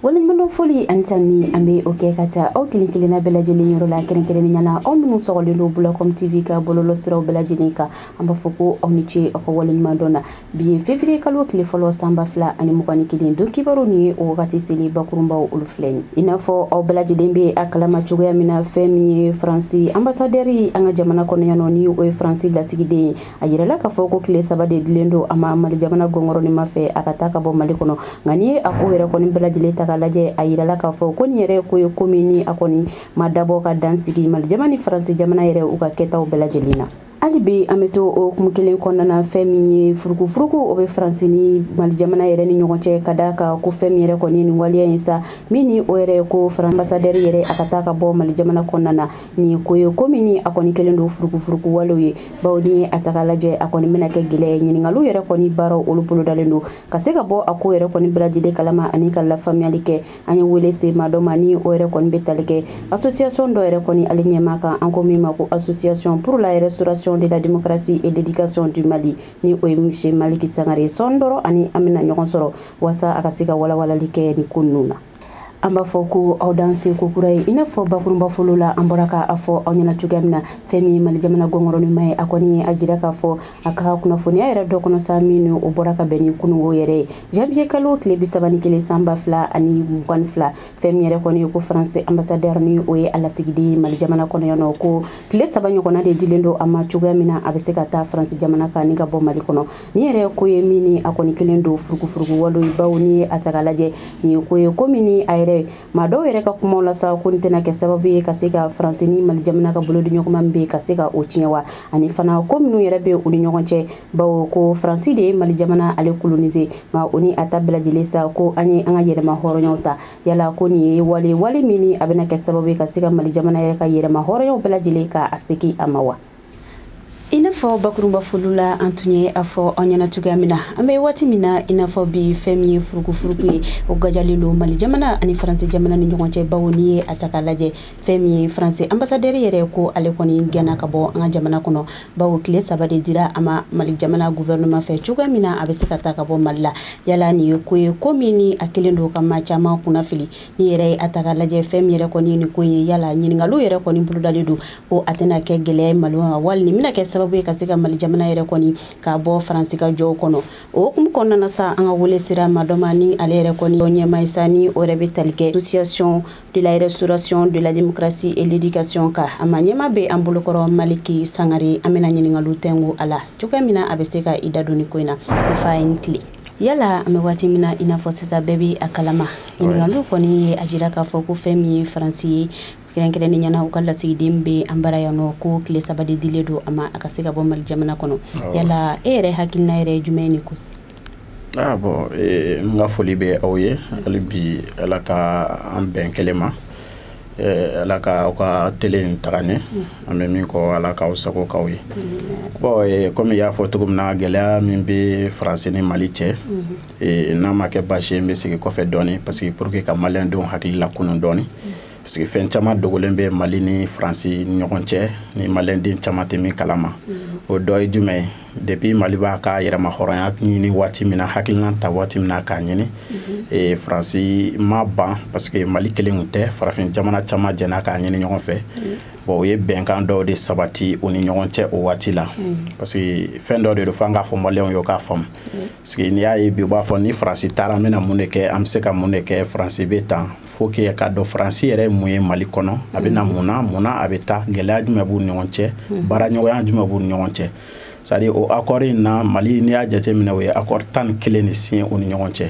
waleɲumandɔn foli ani tanuni an bɛ o kɛ ka taa aw kelen kelenna bɛɛ lajɛlen yɔrɔ la kɛrɛnkɛrɛnnenya la aw minnu sɔgɔlen don bulacom tv ka bɔlɔlɔ siraw bɛɛ lajɛlen kan an b'a fɔ ko aw ni ce aw ka waleɲumandɔn na bi ye fevriye kalo tile fɔlɔ san ba fila ani mugan ni kelen don kibaru min ye o wagati selen bakurunbaw olu filɛ ni i n'a fɔ aw bɛɛ lajɛlen bɛ a kalama cogoya min na fɛn min ye faransi ambasadɛri an ka jamana kɔnɔ yan ni o ye faransi lasigiden ye a yirɛla k'a fɔ ko tile saba de dilen don a ma mali jamana guvɛrɛnɛman fɛ a ka taa ka bɔ mali kɔnɔ nka n'i ye a ko yɛrɛ kɔni bɛɛ lajɛlen ta ka lajɛ a yirɛla k'a fɔ ko nin yɛrɛ ko ye ko min ni a kɔni ma dabɔ ka dan sigi mali jamana ni faransi jamana yɛrɛ u ka kɛtaw bɛɛ lajɛlen na hali bi an bɛ to o hukumu kelen kɔnɔna na fɛn min ye furukufuruku o bɛ faransi ni mali jamana yɛrɛ ni ɲɔgɔn cɛ ka da a kan ko fɛn min yɛrɛ kɔni ye nin waleya ye sa min ni o yɛrɛ ye ko faransi ambasadɛri yɛrɛ a ka taa ka bɔ mali jamana kɔnɔna na nin ye ko ye ko min ni a kɔni kelen don furukufuruku walew ye bawo n'i ye a ta ka lajɛ a kɔni bɛna kɛ gɛlɛya ye ɲiningaliw yɛrɛ kɔni baaraw olu bolodalen don ka se ka bɔ a ko yɛrɛ kɔni bɛɛ lajɛlen kalama ani ka lafaamuyali kɛ an ye wele se maa dɔ ma ni o yɛrɛ kɔni bɛ tali kɛ association dɔ yɛrɛ kɔni ale ɲɛmaa kan an ko min ma ko association pour la restauration de la démocratie et l'éducation du mali ni o ye misye maliki sangare ye sɔɔni dɔrɔn a ni an bɛna ɲɔgɔn sɔrɔ waasa a ka se ka walawalali kɛ nin ko ninnu na an b'a fɔ ko aw dansɛ kokura ye i n'a fɔ bakurunba fɔli la an bɔra k'a fɔ aw ɲɛna cogoya min na fɛn min ye mali jamana guvɛrɛnɛman ye a kɔni ye a jira k'a fɔ a ka kunnafoniya yɛrɛ dɔ kɔnɔ sa min o bɔra ka bɛn ni kunungo yɛrɛ ye janvier kalo tile bisaba ni kelen san ba fila ani mugan ni fila fɛn min yɛrɛ kɔni ye ko faransi ambasadɛr ni o ye a lasigiden ye mali jamana kɔnɔ yan ko tile saba ɲɔgɔnna de dilen don a ma cogoya min na a bɛ se ka taa faransi jamana kan ni ka bɔ mali kɔnɔ nin yɛrɛ ko ye min ni a kɔni kelen don furugufurugu wale bawo n'i ye a ta ka lajɛ nin ye ko ye ko min ni a yɛrɛ maa dɔw yɛrɛ ka kumaw la sa ko nin tɛna kɛ sababu ye ka se ka faransi ni mali jamana ka bolo di ɲɔgɔnma min bɛ ka se ka o tiɲɛ wa ani fana ko minnu yɛrɛ bɛ u ni ɲɔgɔn cɛ bawo ko faransi de ye mali jamana ale kolonise nka o ni a ta bɛɛ lajɛlen sa ko an ye an ka yɛrɛmahɔrɔnyaw ta yala ko nin ye wale wale min ni a bɛna kɛ sababu ye ka se ka mali jamana yɛrɛ ka yɛrɛmahɔrɔnyaw bɛɛ lajɛlen ka a segin a ma wa i n'a fɔ bakurunba fɔli la an tun ye a fɔ aw ɲɛna cogoya min na an bɛ waati min na i n'a fɔ bi fɛn min ye furukufuruku ye o gajalen don mali jamana ani faransi jamana ni ɲɔgɔn cɛ bawo n'i ye a ta k'a lajɛ fɛn min ye faransi ambasadɛri yɛrɛ ko ale kɔni gɛnna ka bɔ an ka jamana kɔnɔ bawo tile saba de dira a ma mali jamana guvɛrɛnɛman fɛ cogoya min na a bɛ se ka taa ka bɔ mali la yala nin ye ko ye ko min ni a kelen don ka maa caman kɔnɔnafili n'i yɛrɛ ye a ta k'a lajɛ fɛn min yɛrɛ kɔni ye nin ko ye yala ɲiningaliw yɛrɛ kɔni bolodalen don ko a tɛna kɛ gɛlɛya mali ma wali nin bɛna kɛ sababu ye ka se ka mali jamana yɛrɛ kɔni ka bɔ faransi ka jɔw kɔnɔ o hukumu kɔnɔna na sa an ka wele sera maa dɔ ma ni ale yɛrɛ kɔni ɲɛmaa ye sa ni o yɛrɛ bɛ tali kɛ association de la restauration de la démocratie et l'éducation ka a ma ɲɛmaa bɛ an bolokɔrɔ maliki sangare an bɛna ɲininkaliw tɛngu a la cogoya min na a bɛ se ka i da don ni ko in na ne fa i ni tile yala an bɛ waati min na i n'a fɔ sisan bɛɛ bɛ a kalama ɲininkaliw kɔni ye a jira k'a fɔ ko fɛn min ye faransi ye kɛrɛnkɛrɛnnenya la u ka lasigiden bɛ an bara yan nɔ ko tile saba de dilen don a ma a ka se ka bɔ mali jamana kɔnɔ yala e yɛrɛ hakilina yɛrɛ ye jumɛn nin ko ah, bon eh, n ka foli bɛ aw ye hali bi ala ka an bɛn kelen ma eh, ala ka aw ka tele in taga ɲɛ mm. aw bɛ min kɔ ala k'aw sago k'aw ye mm. bon eh, komi i y'a fɔ cogo min na gɛlɛya min bɛ faransi ni mali cɛ mm-hmm. n'a ma kɛ baasi ye n bɛ segin kɔfɛ dɔɔnin parce que pour que ka maliyɛndenw hakili lakunun dɔɔnin mm. parce que fɛn caman dogolen bɛ mali ni faransi ni ɲɔgɔn cɛ ni maliden caman tɛ min kalama mm-hmm. o dɔ ye jumɛn ye depuis mali b'a ka yɛrɛmahɔrɔnya ɲini waati min na hakilina ta waati min na k'a ɲini mm-hmm. e, faransi ma ban parce que mali kelen kun tɛ farafin jamana caman jɛna k'a ɲini ɲɔgɔn fɛ mm-hmm. bon o ye bɛnkan dɔw de sabati u ni ɲɔgɔn cɛ o waati la parce que fɛn dɔ de don fo an k'a fɔ maliyɛnw ye u k'a faamu parce que n'i y'a ye bi u b'a fɔ ni faransi taara an bɛna mun de kɛ an bɛ se ka mun de kɛ faransi bɛ tan fo i k'a dɔn faransi yɛrɛ ye mun ye mali kɔnɔ a bɛ na mun na mun na a bɛ taa gɛlɛya jumɛn b'u ɲɔgɔn cɛ baaraɲɔgɔnya jumɛn b'u ɲɔgɔn cɛ c'est à dire o akɔri in na mali n'i y'a jateminɛ u ye akɔri tan ni kelen de siɲɛ u ni ɲɔgɔn cɛ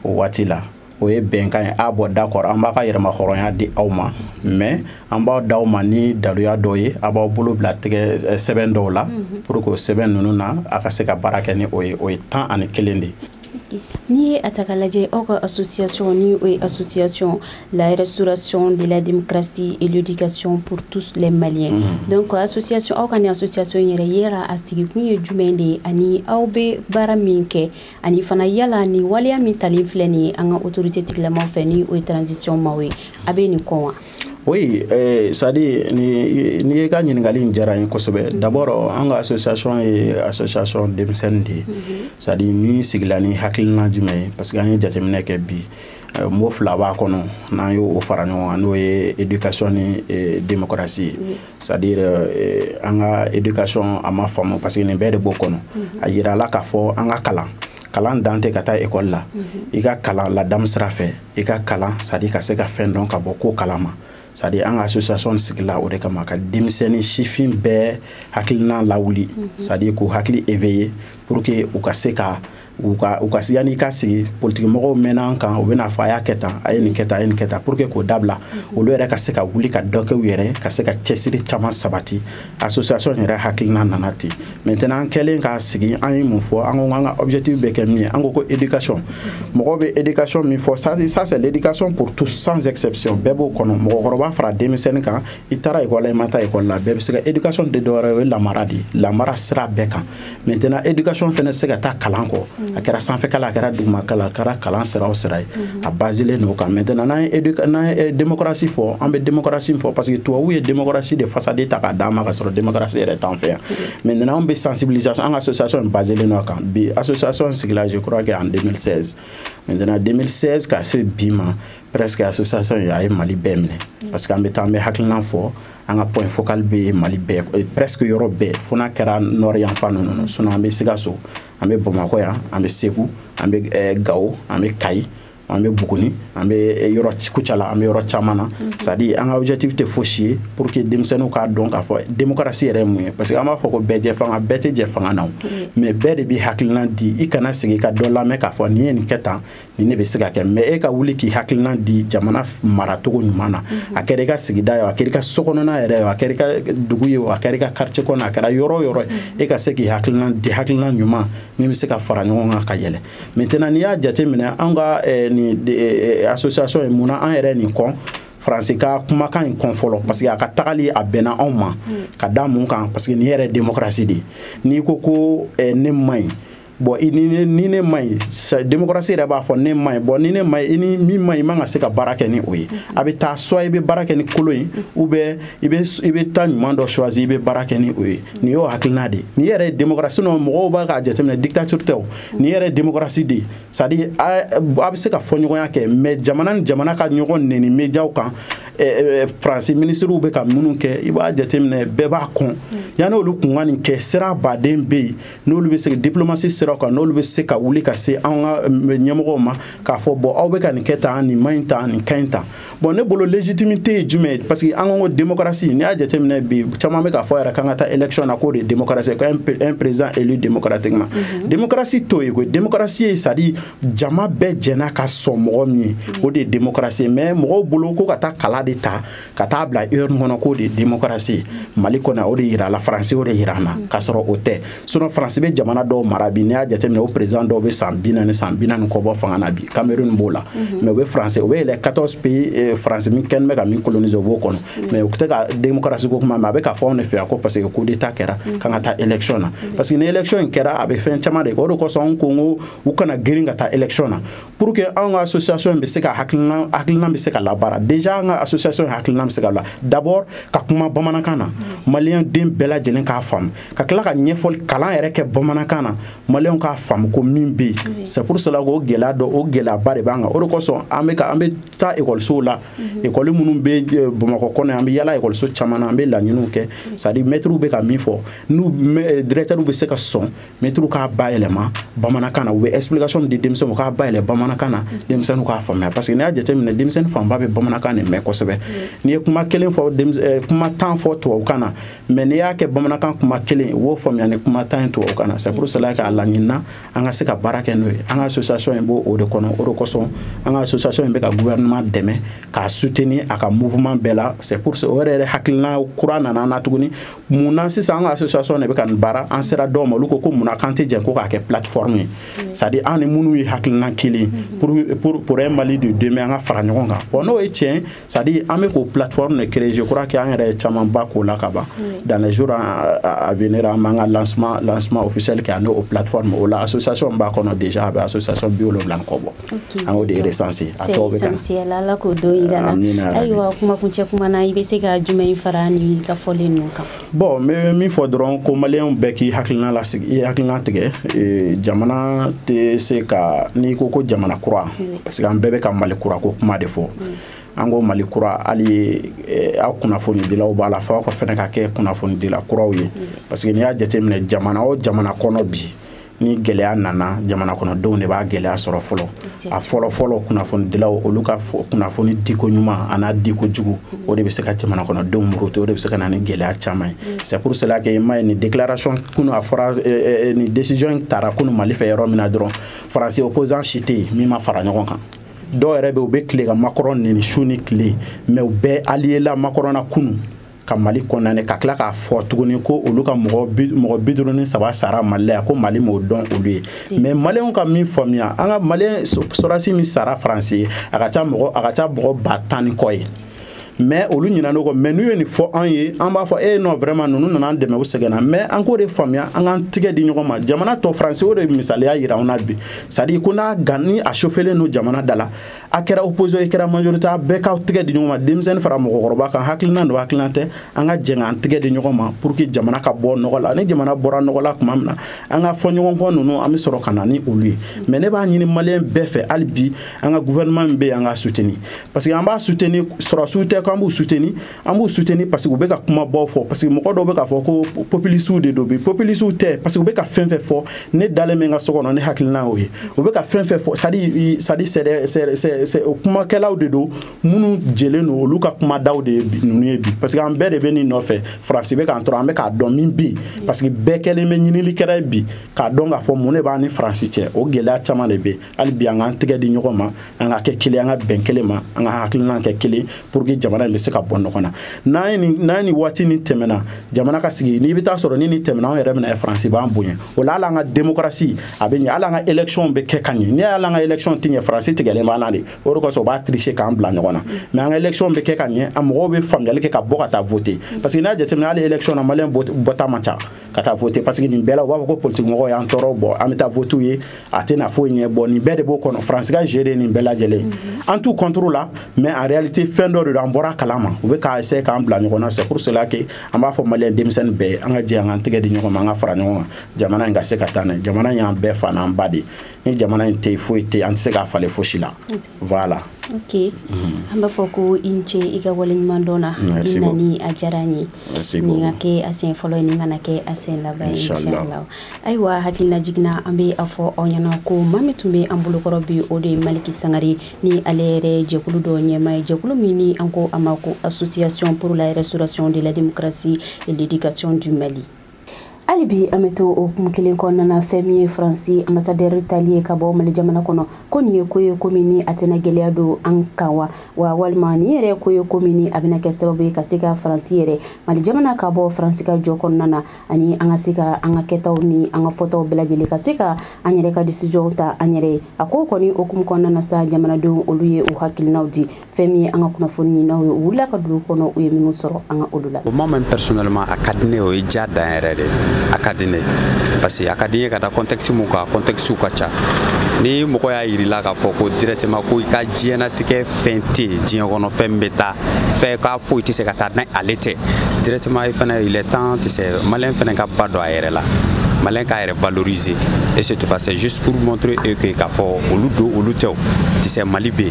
o waati la o ye bɛnkan ye ah bon d'accord an b'aw ka yɛrɛmahɔrɔnya di aw ma mais an b'a d'aw ma ni daluya dɔw ye aw b'aw bolo bila tɛgɛ eh, sɛbɛn dɔw la pour que o sɛbɛn ninnu na a ka se ka baara kɛ ni o ye o ye tan ani kelen de ye N'i ye a ta k'a lajɛ aw ka association ni o ye association la restauration de la démocratie et l'éducation pour tous les maliens mm-hmm. donc association aw ka nin association yɛrɛ yala a sigikun ye jumɛn de ye ani aw bɛ baara min kɛ ani fana yala ni waleya min talen filɛ nin ye an ka autorité tigilamaw fɛ ni o ye transition maaw ye aw bɛ nin kɔ wa Oui, eh, c'est à dire, ni, ni i ka ɲininkali in diyara n ye kosɛbɛ. Mhm. D'abord, an ka association ye association denmisɛnnin de ye. Mm -hmm. C'est à dire, min sigila ni hakilina jumɛn ye parce que an ye jateminɛ kɛ bi. Eh, mot fila b'a kɔnɔ n'an y'o fara ɲɔgɔn kan n'o ye éducation ni eh, démocratie ye mm. c'est à dire eh, an ka éducation a ma faamu parce que nin bɛɛ de b'o kɔnɔ mm -hmm. a yira la k'a fɔ an ka kalan kalan dan tɛ ka taa ekɔli la mm -hmm. i ka kalan ladamu sira fɛ i ka kalan c'est à dire ka se ka fɛn dɔn ka bɔ ko kala ma c'est à dire an ka association sigila o de kama ka denmisɛnnin sifin bɛɛ hakilina lawuli mhm. c'est à dire k'u hakili éveiller pour que u ka se ka u ka u ka yanni i ka sigi politikimɔgɔw mɛnna an kan u bɛna a fɔ a y'a kɛ tan a ye nin kɛ tan a ye nin kɛ tan pour que k'o dabila mhm. olu yɛrɛ ka se ka wuli ka dɔ kɛ u yɛrɛ ka se ka cɛsiri caman sabati association yɛrɛ hakilina nana ten maintenant an kɛlen k'a sigi an ye mun fɔ an ko an ka objectif bɛ kɛ min ye an ko ko éducation mɔgɔ bɛ éducation min fɔ ça ça c'est l'éducation pour tous sans exception bɛɛ b'o kɔnɔ mɔgɔkɔrɔba fara denmisɛnnin kan i taara école la i ma taa école la bɛɛ bɛ se ka éducation tɛ dɔwɛrɛ ye o ye lamara de ye lamara sira bɛɛ kan maintenant éducation fana se ka taa kalan kɔ mm. a kɛra sanfɛ kalan a kɛra duguma kalan a kɛra kalan sira o sira ye mm-hmm. a basilen don o kan maintenant n'an ye n'an ye eh, démocratie fɔ an bɛ démocratie fɔ parce que tubabuw ye démocratie de façade ta k'a d'an ma ka sɔrɔ démocratie yɛrɛ t'an fɛ yan mm-hmm. maintenant an bɛ sensibilisation an ka association in basilen don a kan bi association sigila je crois que en 2016 maintenant 2016 ka se bi ma presque association in a ye mali bɛɛ minɛ mm. parce que an bɛ taa an bɛ hakilina fɔ an ka point focal bɛ mali bɛɛ eh, presque yɔrɔ bɛɛ fo n'a kɛra nord yanfan ninnu sinon an bɛ sikaso an bɛ bamakɔ yan an bɛ segu an bɛ eh, gawo an bɛ kayi an bɛ buguni an bɛ eh, yɔrɔ kucala an bɛ yɔrɔ caman na mhm. c'est à dire an ka objectif tɛ fosi ye pour que denmisɛnninw k'a dɔn k'a fɔ démocratie yɛrɛ ye mun ye parce que an b'a fɔ ko bɛɛjɛfanga bɛɛ tɛ jɛ fanga na o mhm. mais bɛɛ de bɛ hakilina di i kana sigi ka dɔ lamɛn k'a fɔ nin ye nin kɛ tan nin bɛ se ka kɛ mais e ka wuli k'i hakilina di jamana maracogo ɲuman na mhm. a kɛra i ka sigida ye a kɛra i ka sokɔnɔna yɛrɛ ye a kɛra i ka dugu ye a kɛra i ka quartier kɔnɔ a kɛra yɔrɔ o yɔrɔ ye mhm. e ka se k'i hakilina di hakilina ɲuman min bɛ se ka fara ɲɔgɔn kan ka yɛlɛ maintenant n'i y'a jateminɛ anw ka eh, nin eh, eh, association ye mun na an yɛrɛ nin kɔn faransi ka kumakan in kɔn fɔlɔ parce que a ka tagali a bɛnna anw ma mm. ka da mun kan parce que nin yɛrɛ ye démocratie de ye n'i ko ko ne man ɲi bon i ni ne ni ne man ɲi demokarasi yɛrɛ b'a fɔ ne man ɲi bon ni ne man ɲi i ni min man ɲi i man ka se ka baara kɛ ni o ye a bɛ taa soit i bɛ baara kɛ ni kolon ye ou bien i bɛ i bɛ taa ɲuman dɔ choisir i bɛ baara kɛ ni o ye nin y'o hakilina de ye nin yɛrɛ ye demokarasi nɔ mɔgɔw bɛ k'a jateminɛ dictature tɛ o nin yɛrɛ ye demokarasi de ye c'est à dire a bɛ se ka fɔɲɔgɔnya kɛ mais jamana ni jamana ka ɲɔgɔn neni mediaw kan faransi minisiriw bɛ ka minnu kɛ i b'a jateminɛ bɛɛ b'a kɔn yanni olu kun ka nin kɛ siraba de bɛ yen n'olu bɛ se diplomatie siraw kan n'olu bɛ se ka wuli ka se an ka ɲɛmɔgɔw ma k'a fɔ bon aw bɛ ka nin kɛ tan nin man ɲi tan nin ka ɲi tan bon ne bolo légitimité ye jumɛn ye parce que an ko ko démocratie n'i y'a jateminɛ bi caman bɛ k'a fɔ yɛrɛ k'an ka taa élection na k'o de ye démocratie ye un président élu démocratiquement mhm. démocratie t'o ye koyi démocratie ye c'est à dire jama bɛɛ jɛna ka sɔn mɔgɔ min ye o de ye démocratie ye mais mɔgɔw bolo ko ka taa kala de ta ka taa bila urne kɔnɔ k'o de ye demokarasi mali kɔnɔ o de yirala faransi y'o de yira an na k'a sɔrɔ o tɛ sinon faransi bɛ jamana dɔw mara bi n'i y'a jateminɛ o perezan dɔw bɛ san bi naani san bi naani kɔ bɔ fanga na bi kamerun b'o la mhm. mɛ o bɛ faransi o bɛ eh les 14 pays eh, faransi min kɛnbɛ ka min kolonise o b'o kɔnɔ mhm. mɛ u tɛ ka demokarasi ko kuma mɛ a bɛ k'a fɔ anw de fɛ yan ko parce que coup d'état kɛra mhm. k'an ka taa élection na parce que ni élection in kɛra a bɛ fɛn caman de kɛ o de kosɔn anw ko n ko u kana girin ka taa élection na pour que an ka association bɛ se ka hakilina hakilina bɛ se ka labaara déjà an ka association hakilina bɛ se ka la d'abord ka kuma bamanankan na maliyɛn den bɛɛ lajɛlen k'a faamu ka tila ka ɲɛfɔli kalan yɛrɛ kɛ bamanankan na maliyɛnw k'a faamu ko min bɛ yen c'est pour cela k'o gɛlɛya dɔ o gɛlɛyaba de b'an kan o de kosɔn an bɛ ka an bɛ taa ekɔlisow la ekɔli minnu bɛ bamakɔ kɔnɔ an bɛ yala ekɔliso caman na an bɛ laɲiniw kɛ c'est à dire mɛtiriw bɛ ka min fɔ n'u directeurs bɛ se ka sɔn mɛtiriw k'a bayɛlɛma bamanankan na u bɛ explication di denmisɛnninw k'a bayɛlɛma bamanankan na denmisɛnninw k'a faamuya parce que n'i y'a jateminɛ denmisɛnnin fanba bɛ bamanankan de mɛn kosɛbɛ n'i ye kuma kelen fɔ eh, kuma tan fɔ tubabukan na mɛ n'i y'a kɛ bamanankan kuma kelen u b'o faamuya ni kuma tan ye tubabukan na c'est pour cela k'a laɲinina an ka se ka baara kɛ n'o ye an ka association in b'o o de kɔnɔ o de kosɔn an ka association in bɛ ka gouvernement dɛmɛ k'a soutenir a ka mouvement bɛɛ la c'est pour o yɛrɛ yɛrɛ hakilina kura nana an na tuguni mun na sisan an ka association de bɛ ka nin baara an sera dɔw ma olu ko ko mun na k'an tɛ jɛ ko k'a kɛ plateforme ye mm. c'est à dire an ni minnu ye hakilina kelen mm-hmm. pour pour pour un mali de demain an ka fara ɲɔgɔn kan bon n'o ye tiɲɛ c'est à dire an bɛ k'o plateforme de créer je crois que an yɛrɛ ye camanba k'o la ka ban dans les jours à venir an b'an ka lancement lancement officiel kɛ ani o plateforme o la association b'a kɔnɔ déjà a bɛ association bi wolonwula ni kɔ bɔ. Okay. An y'o de resanse a tɔw bɛ ka na ala k'o don yira an na ayiwa kumakuncɛ kuma na i bɛ se ka jumɛn in fara i ka fɔlen ninnu kan bon n bɛ min fɔ dɔrɔn ko maliyɛnw bɛɛ k'i hakili lasigi i hakili latigɛ e, jamana tɛ se ka n'i ko ko jamana kura parce que an bɛɛ bɛ ka mali kura ko kuma de fɔ an ko mali kura hali e, aw kunnafonidilaw b'a la fo aw fɛnɛ ka kɛ kunnafonidila kuraw ye parce que n'i y'a jateminɛ jamana o jamana kɔnɔ bi ni gɛlɛya nana jamana kɔnɔdenw de b'a gɛlɛya sɔrɔ fɔlɔ a fɔlɔ fɔlɔ kunnafonidilaw olu ka kunnafoni diko ɲuman an'a diko jugu o de bɛ se ka jamana kɔnɔdenw muruti o de bɛ se ka na ni gɛlɛya caman ye mm. c'est pour cela que i m'a ye nin déclaration kunu a fɔra eh, eh, eh, nin décision in tara kunu Mali fɛ yɔrɔ min na dɔrɔn faransi opposant si tɛ yen min ma fara ɲɔgɔn kan dɔw yɛrɛ bɛ u bɛ tile ka makɔrɔn neni su ni tile mais u bɛɛ aliyela makɔrɔn na kunu ka mali condamner ka tila k'a fɔ tuguni ko olu ka mɔgɔ bi duuru ni saba sara mali la yan ko mali m'o dɔn olu ye mɛ maliyɛnw ka min faamuya an ka maliyɛn sɔrɔdasi min sara faransi ye a ka ca mɔgɔ a ka ca mɔgɔ ba tan ni kɔ ye mɛ olu ɲinan'o kɔ mɛ n'u ye nin fɔ an ye an b'a fɔ e eh, non vraiment ninnu nana an dɛmɛ u sɛgɛnna mɛ an k'o de faamuya an k'an tigɛ di ɲɔgɔn ma jamana tɔ faransi y'o de misaliya yira an na bi c'est à dire ko n'a gan ni a chauffelen don jamana da la a kɛra opposition i kɛra majorité a bɛɛ k'aw tɛgɛ di ɲɔgɔn ma denmisɛnnin fara mɔgɔkɔrɔba kan hakilina don hakilina tɛ an ka jɛn k'an tɛgɛ di ɲɔgɔn ma pour que jamana ka bɔ nɔgɔ la ni jamana bɔra nɔgɔ la tuma min na an ka fɔɲɔgɔnkɔ ninnu an bɛ sɔrɔ ka na ni olu ye mais ne b'a ɲini maliyɛn bɛɛ fɛ hali bi an ka gouvernement min bɛ yen an k'a soutenir parce que an b'a soutenir sɔrɔdasiw tɛ k'an b'u soutenir an b'u soutenir parce que u bɛ ka kumabaw fɔ parce que mɔgɔ dɔw bɛ k'a fɔ ko populisiw de don bi populisiw tɛ parce que u bɛ ka fɛn fɛn fɔ ne dalen bɛ n ka so kɔnɔ ne hakilina y'o ye u bɛ ka fɛn fɛn fɔ c'est-à-dire c'est-à-dire c'est des c'est c'est c'est kumakɛlaw de don minnu jɛlen don olu ka kumadaw de ye bi ninnu ye bi parce que an bɛɛ de bɛ nin nɔfɛ faransi bɛ k'an tɔɔrɔ an bɛ k'a dɔn min bi parce que bɛɛ kɛlen bɛ ɲinilikɛla ye bi k'a dɔn k'a fɔ mun de b'an ni faransi cɛ o gɛlɛya caman de bɛ yen hali bi an k'an tɛgɛ di ɲɔgɔn ma an ka kɛ kelen an ka bɛn kelen ma an ka hakilina kɛ kelen pour que jamana in bɛ se ka bɔ nɔgɔ la n'an ye nin n'an ye nin waati nin tɛmɛna jamana ka sigi n'i bɛ taa sɔrɔ ni nin tɛmɛna anw yɛrɛ bɛna faransi b'an bonya o la hali an ka démocratie a bɛ ɲɛ hali an ka élection bɛ kɛ ka ɲɛ n'i y'a ye an ka élection tɛ ɲɛ faransi tigɛlen b'an na de o de kosɔn u b'a tricher k'an bila ɲɔgɔn na mais an ka élection bɛ kɛ ka ɲɛ a mɔgɔw bɛ faamuyali kɛ ka bɔ ka taa voter parce que n'a jateminɛ hali élection na maliyɛn bɔta man ca ka taa voter parce que nin bɛɛ la u b'a fɔ ko politiki mɔgɔw y'an tɔɔrɔ bon an bɛ taa voter ye a tɛna foyi ɲɛ bon nin bɛɛ de b'o kɔnɔ faransi ka jeu de nin bɛɛ lajɛlen an t'u contre la mais en réalité fɛn dɔ de don an bɔra kala ma u bɛ k'a essayer k'an bila ɲɔgɔn na c'est pour cela que an b'a fɔ maliyɛn denmisɛnnin bɛɛ ye an ka jɛ an k'an tɛgɛ di ɲɔgɔn ma an ka fara ɲɔgɔn kan jamana in ka se ka taa n'a ye jamana in y'an bɛɛ fa n'an ba de ye ni jamana in tɛ yen foyi tɛ yen an tɛ se k'a falen fosi la voilà ok an b'a fɔ ko i ni ce i ka waleɲuman dɔn na i nali a diyara an ye nin ka kɛ a sen fɔlɔ ye nin kana kɛ a sen laban ye inshallah ayiwa hakilinajigin na an bɛ a fɔ aw ɲɛna ko maa min tun bɛ an bolokɔrɔ bi o de ye maliki sangare ni ale yɛrɛ jɛkulu dɔ ɲɛmaa ye jɛkulu min ni an ko a ma ko association pour la restauration de la démocratie et l'éducation du mali hali bi an bɛ to o hukumu kelen kɔnɔna na fɛn min ye faransi ambasadɛri taali ye ka bɔ mali jamana kɔnɔ ko nin ye ko ye ko min ni a tɛna gɛlɛya don an kan wa wa walima nin yɛrɛ ko ye ko min ni a bɛna kɛ sababu ye ka se ka faransi yɛrɛ mali jamana ka bɔ faransi ka jɔ kɔnɔna na ani an ka se ka an ka kɛtaw ni an ka fɔtaw bɛɛ lajɛlen ka se ka an yɛrɛ ka décisionw ta an yɛrɛ ye a ko kɔni hukumu kɔnɔna na sa jamanadenw olu ye u hakilinaw di fɛn min ye an ka kunnafoniɲininaw ye u wulila ka dugu kɔnɔ u ye minnu sɔrɔ an ka olu lamɛn personnellement a ka di n ye o ye diya dan yɛrɛ de a ka di n ye parce que a ka di n ye ka da contexte mun kan contexte ka ca ni mɔgɔ y'a yirila k'a fɔ ko directement ko i ka diɲɛnatigɛ fɛn tɛ yen diɲɛ kɔnɔ fɛn min bɛ taa fɛn k'a foyi tɛ se ka taa ni ale tɛ directement i fana il est temps tɛ se maliyɛn fana ka ba don a yɛrɛ la maliyɛn k'a yɛrɛ valoriser et c'est passé juste pour montrer eux que k'a fɔ olu don olu tɛ u tɛ se Mali bɛ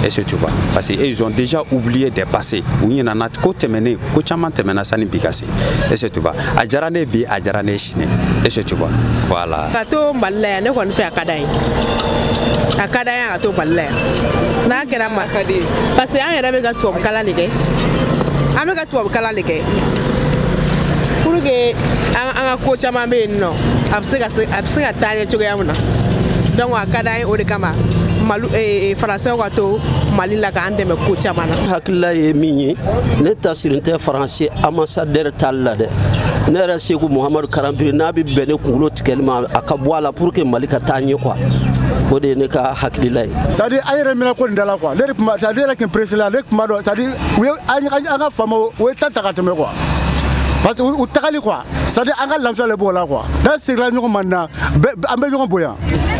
et c'est tout parce que ils ont déjà oublié des passés u ɲinana ko tɛmɛnen ko caman tɛmɛna sani bi ka se et c'est tout a diyara ne ye bi a diyara ne ye sini et c'est tout voilà. ka to Mali la yan ne kɔni fɛ a ka d'an ye a ka d'an ye a ka to Mali la yan n'a kɛra ma parce que an yɛrɛ bɛ ka tubabu kalan de kɛ an bɛ ka tubabu kalan de kɛ pour que an an ka ko caman bɛ yen nɔ a bɛ se ka a bɛ se ka taa ɲɛ cogoya min na donc a ka d'an ye o de kama malu eh, eh, faransɛw ka to mali la k'an dɛmɛ ko caman na hakilila ye min ye ne tasirin tɛ faransi anbasadɛri taali la dɛ ne yɛrɛ seku muhamadu karanbiri n'a bɛ bɛn ne kunkolo tigɛli ma a ka bɔ a la pour que mali ka taa ɲɛ quoi o de ye ne ka hakilila ye c'est à dire an yɛrɛ minɛ ko nin da la quoi ne de tun b'a c'est à dire ne yɛrɛ tun ye peresi la ne tun b'a dɔn c'est à dire u ye an ka faamaw o ye ta ta ka tɛmɛ quoi parce que u tagali quoi c'est à dire an ka lafiya le b'o la quoi n'an seginna ɲɔgɔn ma nin na an bɛ ɲɔgɔn bonya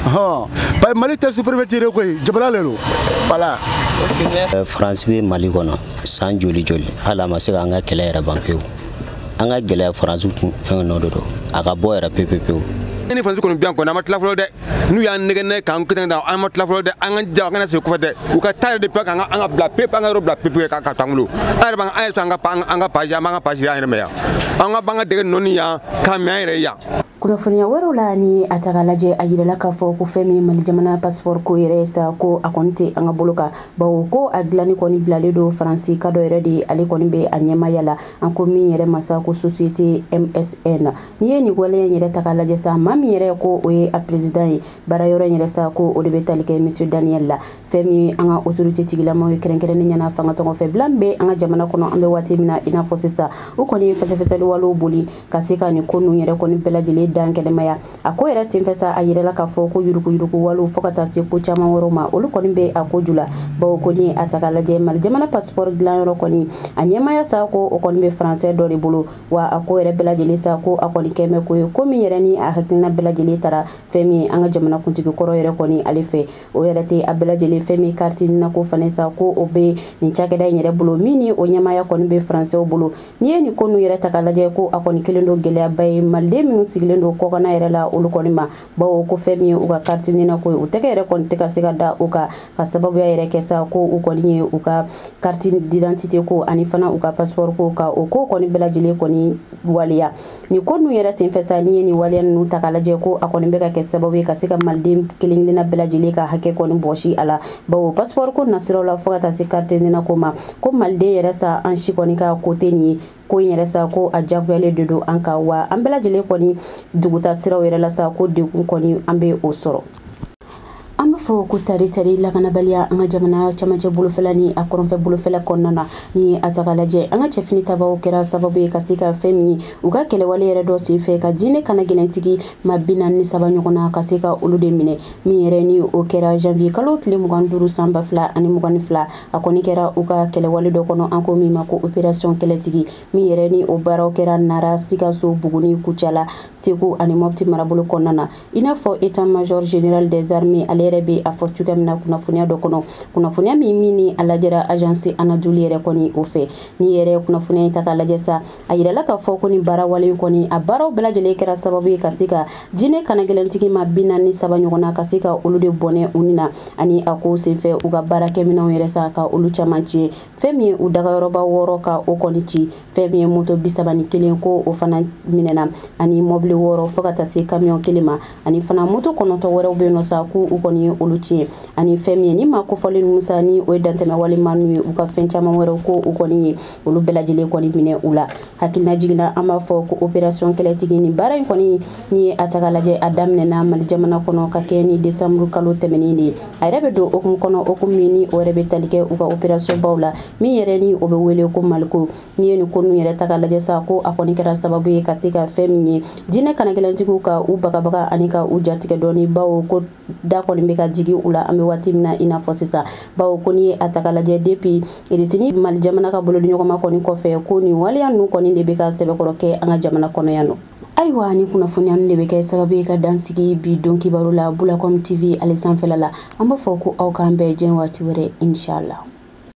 hɔn parce que mali tɛ sous-préfecture koyi jamana le don voilà euh, france bɛ mali kɔnɔ san joli joli hali a ma se k'an ka kɛlɛ yɛrɛ ban pewu an ka gɛlɛya faransi fɛn nɔ de don a ka bɔ yɛrɛ pepepewu ni faransi kɔni bɛ yan kɔni an ma tila fɔlɔ dɛ n'u y'an nɛgɛ nɛgɛ k'an kɛnɛ da an ma tila fɔlɔ dɛ an ka ja an kana segin kɔfɛ dɛ u ka taa yɛrɛ de pe k'an ka an ka bila pepe an ka yɔrɔ bila pepe ka ka to an bolo an yɛrɛ b'an an yɛrɛ to an ka an ka baga an b'an ka baga an yɛrɛ min yan an ka b'an ka dɛgɛ nɔɔni yan k'a min an yɛrɛ yan kunnafoniya wɛrɛw la ni a ta ka lajɛ a yirala k'a fɔ ko fɛn min mali jamana pasipɔri ko yɛrɛ sa ko a kɔni tɛ an ka bolo kan bawo ko a dilanni kɔni bilalen don faransika dɔ yɛrɛ de ale kɔni bɛ a ɲɛmaya la an ko min yɛrɛ ma sa ko société msn n'i ye nin waleya in yɛrɛ ta k'a lajɛ sa maa min yɛrɛ ko o ye a peresidan ye baara yɔrɔ in yɛrɛ sa ko o de bɛ tali kɛ monsieur daniel la fɛn min an ka autorité tigilamaw ye kɛrɛnkɛrɛnnenya la fanga tɔgɔ fɛ bila min bɛ an ka jamana kɔnɔ an bɛ waati min na i n'a fɔ sisan o kɔni ye fɛsɛfɛsɛliwalew boli ka se ka nin ko ninnu yɛrɛ kɔni bɛɛ lajɛlen dankɛnɛmaya a ko yɛrɛ senfɛ sa a yirala k'a fɔ ko yuruguyuruguwalew fo ka taa se ko caman wɛrɛw ma olu kɔni bɛ a ko ju la bawo ko ni a ta ka lajɛ mali jamana pasipɔri dilanyɔrɔ kɔni a ɲɛmaya sa ko o kɔni bɛ faransɛ dɔ de bolo wa a ko yɛrɛ bɛɛ lajɛlen sa ko a kɔni kɛlen bɛ ko ye ko min yɛrɛ ni a hakilina bɛɛ lajɛlen tara fɛn min an ka jamana kuntigi kɔrɔ yɛrɛ kɔni ale fɛ o yɛrɛ tɛ a bɛɛ lajɛlen fɛn min kariti nina ko fana sa ko o bɛ nin cakɛda in yɛrɛ bolo min ni o ɲɛmaya kɔni bɛ faransɛw bolo n'i ye nin ko ninnu yɛrɛ ta ka lajɛ ko a kɔni kɛlen don gɛlɛyaba ye maliden minnu sigilen don kɔkana yɛrɛ la olu kɔni ma bawo ko fɛn min ye u ka kariti nina ko ye u tɛgɛ yɛrɛ kɔni tɛ ka se ka da u kan k'a sababuya yɛrɛ kɛ sa ko u kɔni ye u ka kariti didantite ko ani fana u ka pasipɔri ko ka o ko kɔni bɛɛ lajɛlen kɔni waleya nin ko ninnu yɛrɛ senfɛ sa n'i ye nin waleya ninnu ta ka lajɛ ko a kɔni bɛ ka kɛ sababu ye ka se ka maliden kelen kelenna bɛɛ lajɛlen ka hakɛ kɔni bɔsi a la bawo pasipɔri ko nasiraw la fo ka taa se kariti nina ko ma ko maliden yɛrɛ sa an si kɔni ka ko tɛ nin ye ko in yɛrɛ sa ko a jagoyalen de don an ka wa an bɛɛ lajɛlen kɔni duguta siraw yɛrɛ la sa ko degun kɔni an bɛ o sɔrɔ an b'a fɔ ko tari tari lakanabaliya an ka jamana camancɛ bolofɛla ni a kɔrɔnfɛ bolofɛla kɔnɔna na ni a ta ka lajɛ an ka cɛfini tabaw kɛra sababu ye ka se ka fɛn min ye u ka kɛlɛwale yɛrɛ dɔ senfɛ ka diinɛ kanagɛlɛntigi maa bi naani ni saba ɲɔgɔn na ka se ka olu de minɛ min yɛrɛ ni o kɛra janvier kalo tile mugan duuru san ba fila ani mugan ni fila a kɔni kɛra u ka kɛlɛwale dɔ kɔnɔ an ko min ma ko operasiyɔn kɛlɛtigi min yɛrɛ ni o baaraw kɛra nara sikaso buguni kucala segu ani mɔpti marabolo kɔnɔna na i n'a fɔ état major général des armées ale yɛrɛ bɛ a fɔ cogoya min na kunnafoniya dɔ kɔnɔ kunnafoniya min min ni a lajɛra agence anadolu yɛrɛ kɔni o fɛ ni yɛrɛ kunnafoniya ta ka lajɛ sa a yirala k'a fɔ ko ni baarawale in kɔni a baaraw bɛɛ lajɛlen kɛra sababu ye ka se ka diinɛ kanagɛlɛntigi maa bi naani ni saba ɲɔgɔn na ka se ka olu de bɔnɛ u ni na ani a kow senfɛ u ka baarakɛminɛnw yɛrɛ sa ka olu caman tiɲɛ fɛn min ye u dagayɔrɔba wɔɔrɔ ka o kɔni ci fɛn min ye moto bisaba ni kelen ko o fana minɛna ani mɔbili wɔɔrɔ fɔɔ ka taa se kamiyɔn kelen ma ani fana moto kɔnɔntɔ wɛrɛw bɛ nɔ sa ko u kɔni ye olu tiɲɛ ani fɛn min ye nin maa kofɔlen ninnu sa ni o ye dantɛmɛwale maa ninnu ye u ka fɛn caman wɛrɛw ko u kɔni ye olu bɛɛ lajɛlen kɔni minɛ u la hakilinajigin na an b'a fɔ ko operasiyɔn kɛlɛtigi nin baara in kɔni n'i ye a ta ka lajɛ a daminɛna mali jamana kɔnɔ ka kɛ ni desanburu kalo tɛmɛnen de ye a yɛrɛ bɛ don hukumu kɔnɔ hukumu min ni o yɛrɛ bɛ tali kɛ u ka operasiyɔnba la min yɛrɛ ni o bɛ wele ko maliko n'i ye nin ko ninnu yɛrɛ ta ka lajɛ sa ko a kɔni kɛra sababu ye ka se ka fɛn min ye diinɛ kanagɛlɛntigiw ka u bagabaga ani ka u jatigɛ dɔɔni bawo ko da kɔni bɛ ka jigi u la an bɛ waati min na i n'a fɔ sisan bawo ko n'i ye a ta ka lajɛ depi irisi ni mali jamana ka bolodiɲɔgɔnma kɔni kɔfɛ ko nin waleya ninnu kɔni de bɛ ka sɛbɛkɔrɔ kɛ an ka jamana kɔnɔ yan nɔ ayiwa nin kunnafoniya de bɛ kɛ sababu ye ka dan sigi bi don kibaru la bulacom tv ale sanfɛla la an b'a fɔ ko aw k'an bɛɛ jɛn waati wɛrɛ inshallah